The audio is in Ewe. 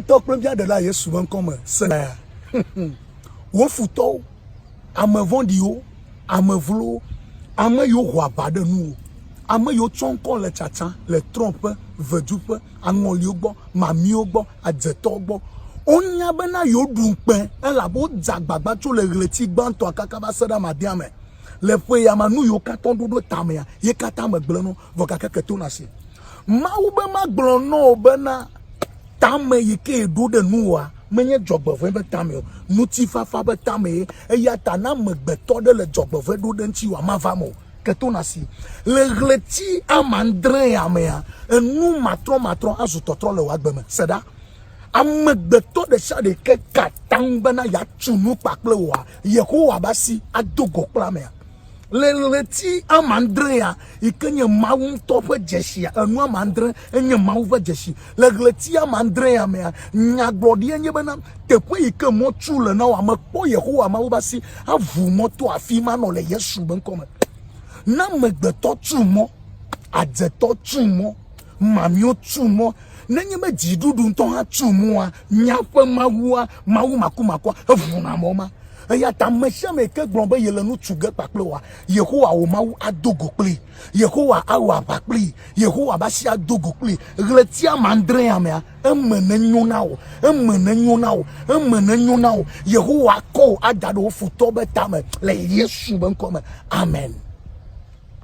Tɔ kple via ɖe la Yesu ƒe ŋkɔ me sena ya. Wo futɔwo, ame vɔ̃ɖiwo, ame vlowo, ame yiwo ho aʋa ɖe nuwo, ame yiwo tsɔ ŋkɔ le tsatsa le Trump ƒe veduƒe, aŋɔliwo gbɔ, mamiwo gbɔ, adzetɔwo gbɔ. Wonya bena yewoɖu ŋukpe elabe wodze agbagba tso le ɣleti gbãtɔa kaka va se ɖe amadea me. Le ƒe ya me nu yiwo katã woɖo ɖo tamea ye katã megblẽ no vɔ gake ke tona si. Mawu be magblɔ nɔ wò bena, Tame yi ke ɖo ɖe nuwòa menye dzɔgbevɔ̃e be tame o, ŋutifafa be tamee, eya ta ne amegbetɔ ɖe le dzɔgbevɔ̃e ɖo ɖe ŋutiwòa, mava me o. Ke to nasi. Le ɣleti amadrẽa mea, enu matrɔmatrɔ azu tɔtrɔ le wò agbe me. Se ɖa, amegbetɔ ɖe sia ɖe ke ka atam bena yeatu nu kpakple wòa, Yehowa be asi ado go kple amea. le ɣleti ama adrea yi ke nye Mawu ŋutɔ ƒe dzesi enu ama adre enye Mawu ƒe dzesi le ɣleti ama adrea mea nyagblɔɖia nye bena teƒe yi ke mɔtsu le na wòa mekpɔ Yehowa Mawu ƒe asi avu mɔto afi ma nɔ le Yesu be ŋkɔ me na amegbetɔ tsu mɔ adzetɔ tsu mɔ mamio tsu mɔ nenye be dziɖuɖu ŋutɔ hã tsu mɔa nyaƒe Mawua Mawu makumakua evuna mɔ ma Eya ta ame sia ame yi ke gblɔ be yele nu tu ge kpakple wòa, Yehowa wò Mawu ado go kplii. Yehowa awɔ aʋa kplii. Yehowa ƒe asi ado go kplii. Ɣleti amadrea mea, eme nenyo na wò. Eme nenyo na wò. Eme nenyo na wò. Yehowa akɔ wò ada ɖe wò futɔwo ƒe tame le Yesu ƒe ŋkɔ me. Amen.